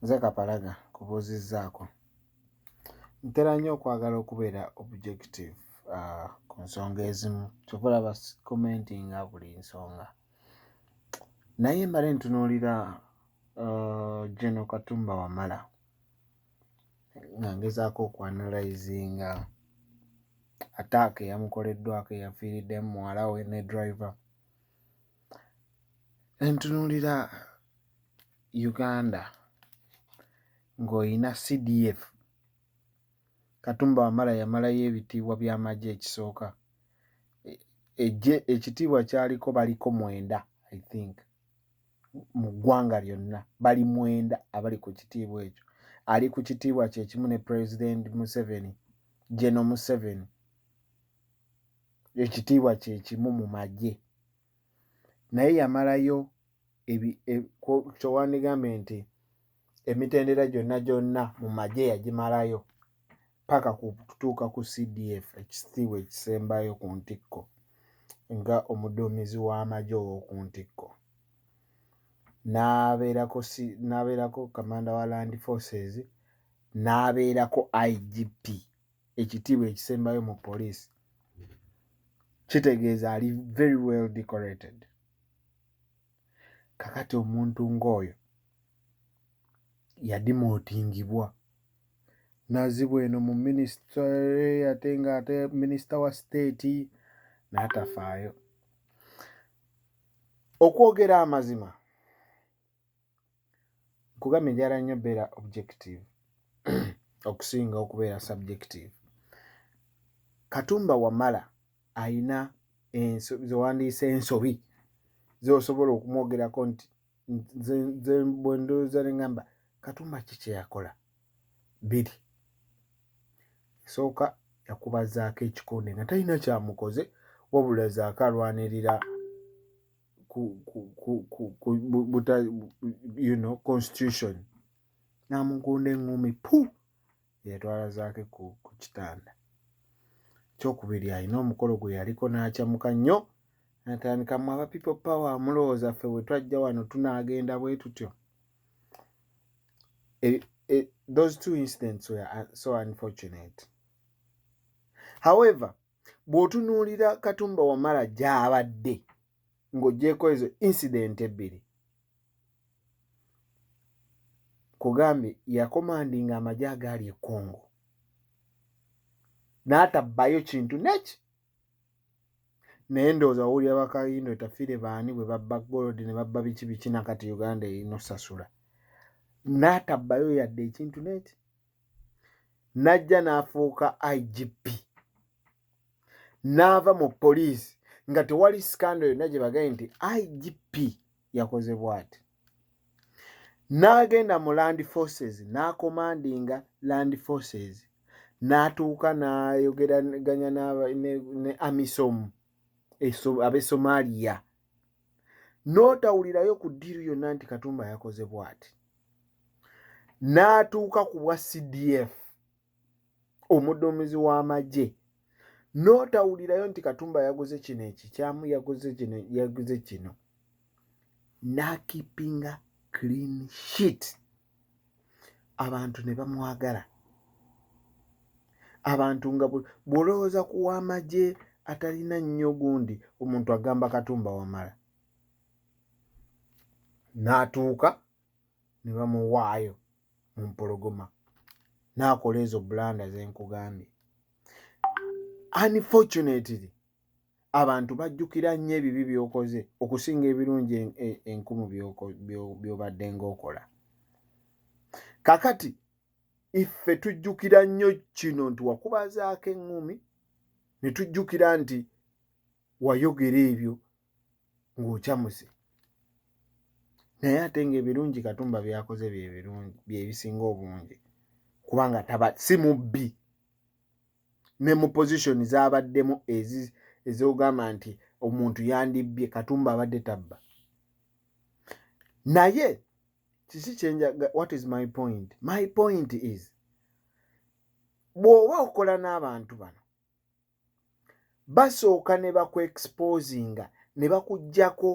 nze kapalaga kubuuzizzaako ntera nnyo okwagala okubeera objective uh, ku nsonga ezimu kyova olaba commentinga buli nsonga naye mbale ntunuulira uh, geno katumba wamala nga ngezaako okuanalizinga ataaka eyamukoleddwako eyafiiriddemu muwala we ne driver Entunuulira Uganda ng'oyina CDF. Katumba Wamala yamalayo ebitiibwa by'amagye ekisooka. Eggye ekitiibwa kyaliko baliko mwenda I think mu ggwanga lyonna bali mwenda abali ku kitiibwa ekyo. Ali ku kitiibwa kye kimu ne Pulezidenti Museveni, Geno Museveni. Ekitiibwa kye kimu mu magye. naye yamalayo kyowandigambye nti emitendera gyonna gyonna mu magye yagimalayo paka kutuuka ku cdf ekisitiibwa ekisembayo ku ntikko nga omuduumizi w'amagye ow'oku ntikko n'abeerako kamanda wa land forces n'abeerako igp ekitiibwa ekisembayo mu poliisi kitegeeza ali very well decorated kakati omuntu ng'oyo yadimootingibwa nazibwa eno mu minisita ate nga ate minisita wa siteeti n'atafaayo okwogera amazima nkugambye njala nnyo beera objective okusinga okubeera subjective katumba wamala ayina zewandiisa ensobi zosobola okumwogerako nti bwendooza nengamba katumba ki kyeyakola biri esooka yakubazaako ekikonde nga talina kyamukoze wabula zaako alwanirira ku, ku, ku, ku, ku buta, you know, constitution namukunda eŋumi pu yatwala zaake ku, ku kitanda kyokubiri alina omukolo gwe yaliko n'akyamuka nnyo natandika mu aba people power amulowooza ffe we twajja wano tunaagenda bwe tutyo e, e, those two incidents were uh, so unfortunate however bw'otunuulira katumba wamala gy'abadde ng'ogyeko ezo incident ebbiri kugambye yakomandi nga amagye agaali ekongo n'atabbayo kintu neki naye ndowooza wawulira bakayindo etafire baani bwe babba golodi ne babba biki biki nakati uganda erina osasula n'atabbayo yadde ekintu neki n'ajja n'afuuka igp n'ava mu poliisi nga tewali sikando yonna gye bagaye nti igp yakoze bwati n'agenda mu land forces n'akomandinga land forces n'atuuka n'ayogeraganya ne amisom ab'e somaliya n'otawulirayo ku ddiiru yonna nti katumba yakoze bwati n'atuuka ku bwa cdf omuduumizi w'amagye n'otawulirayo nti katumba yaguze kino ekikyamu yaguze kino yaguze kino n'akipinga clean sheet abantu ne bamwagala abantu nga bw'olowooza ku w'amagye atalina nnyo gundi omuntu agamba katumba wamala n'atuuka ne bamuwaayo mu mpologoma n'akola ezo bulanda ze nkugambye unfortunately abantu bajjukira nnyo ebibi by'okoze okusinga ebirungi e, enkumu by'obadde ng'okola kakati iffe tujjukira nnyo kino nti wakubazaako eŋŋumi ne tujjukira nti wayogera ebyo ng'ocamuse naye ate ng'ebirungi katumba byakoze bye birungi bye bisinga obungi kubanga taba si mubbi ne mu position z'abaddemu ezogamba nti omuntu yandibbye katumba abadde tabba naye kiki kyenjaga what is my point my point is bw'oba okola n'abantu bano basooka ne bakuexposinga ne bakuggyako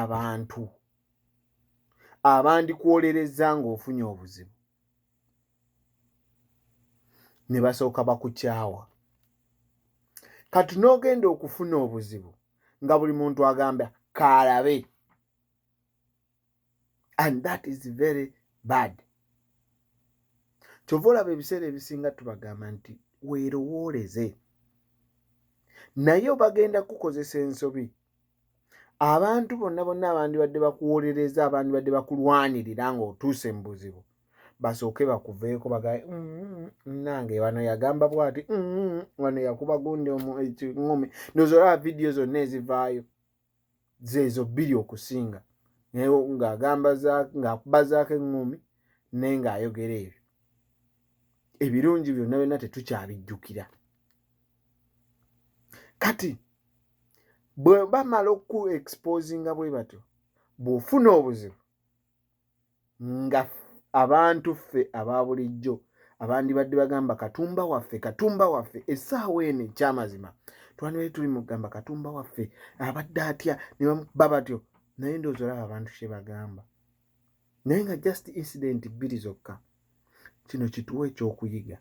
abantu abandikwolerezza ng'ofunye obuzibu ne basooka bakukyawa kati n'ogenda okufuna obuzibu nga buli muntu agamba kaalabe and that is very bad kyova olaba ebiseera ebisinga tubagamba nti weerowooleze naye obagenda kukozesa ensobi abantu bonna bonna abandibadde bakuwolereza abandibadde bakulwanirira ng'otuuse mu buzibu basooke bakuveeko bagae mm, mm, mm, nange wano yagamba bwati wano yakuba gundi omukiumi eh, nozolaba vidiyo zonna ezivaayo zeezo bbiri okusinga naye ng'agamba ng'akuba zaako eŋŋumi naye ng'ayogera ebyo ebirungi byonna byonna tetukyabijjukira kati bwe bamala oku exposinga bwe batyo bw'ofuna obuzibu nga abantu ffe aba bulijjo abandibadde bagamba katumba waffe katumba waffe essaawa eno ekyamazima twandibadde tuli mu kugamba katumba waffe abadde atya ne baba batyo naye ndowooza olaba abantu kye bagamba naye nga just incident bbiri zokka kino kituwa ekyokuyiga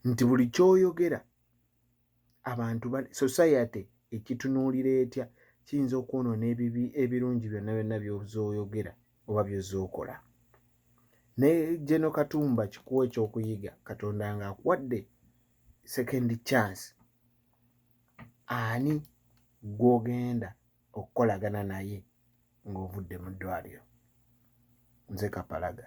nti buli kyoyogera abantu society ekitunuulira etya kiyinza okwonoona ebibi ebirungi byonna byonna byozoyogera oba byozookola naye geno katumba kikuwa ekyokuyiga katonda nga akuwadde second chance ani gwogenda okukolagana naye ng'ovudde mu ddwaaliro. Nze Kapalaga.